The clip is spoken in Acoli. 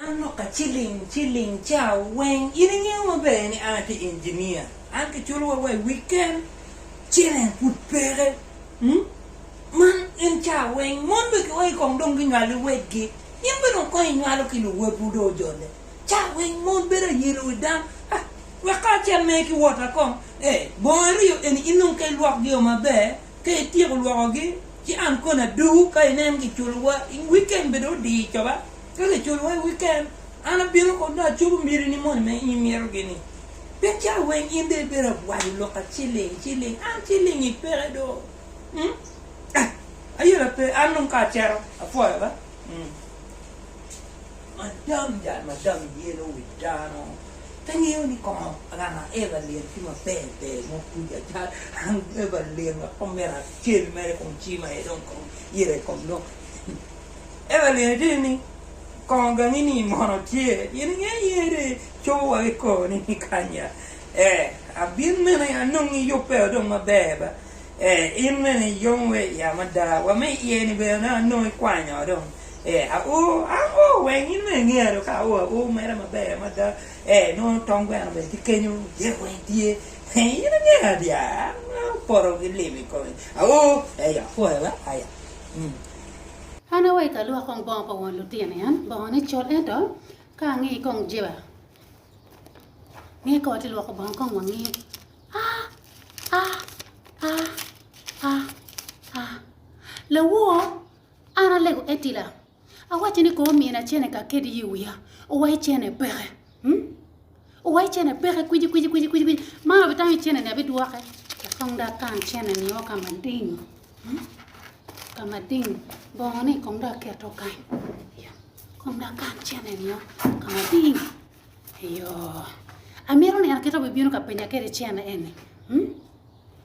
An lok ka ciling ciling ca weng. In ingeyo maber ni an atye engineer. An kiculo wa wa i weekend, cene pud peke. Man in ca weng mon bene kiweyo i kong dong ginywalo luwotgi. In bene dong kong inywalo ki luwotwu dong ojole. Ca weng mon bedo ayelo i dam. Ah, wek kacel mere ki wota kong. Eh, bongo aryo eni in dong ka ilwokgio maber, ka ityeko lwokogi, ci an koni adugu ka inen giculo wa i weekend bene odi coba. Ka kiculowa i wiken, an abino kong dong acobo mirini moni ma in imito-gi-ni. Pe calo weng in dong ibedo abwayo lok ka ciling ciling, an ciling-ngi peke do. Um? Eh, ayela pe, an dong ka acito, apwoyo be. Um. Madam, jal madam yelo wi dano, pe ngeyo ni kongo ranga Evelyn ki maber ber mo kuc acal. An Evelyn wek omera acel mere kong cima aye dong kong ita i kom dong. Ento lyene tye ni, Kong gangini mono tye in inge ye de cobo wa ki kor ni kanya ee abin mene anong iyubbe o dong maber ba ee in mene iyong we iya mada wa me iye ni bene dong anong ikwanya o dong ee ao ang o weng in mene inge do ka ao ao mere maber mada ee nongo tong gweno bene tye kenyo jek weng tye ee in inge adyar an apoto ki limi kong ao ee apwoya ba aya. An awek alwok kong bongo pa won lutino en, bongone col ento ka angi kong jiba nge ka watye lwoko bongo kong wangi ah ah ah ah ah lawor an alego etila awaco ni kong omina cene kakedi i wiya owaco cene peke. Oa i cene peke kwici kwici kwici kwici kwici. Ma abitamo i cene ni abidwoke. Kong da kan cene ni o kama ding. Hmm? Kama ding. Bongo ni kong da keto kany. Yo. Kong da kan cene ni o kama ding. Yo. Amiro ni an keto bibino ka penya kere cene eni. Hmm?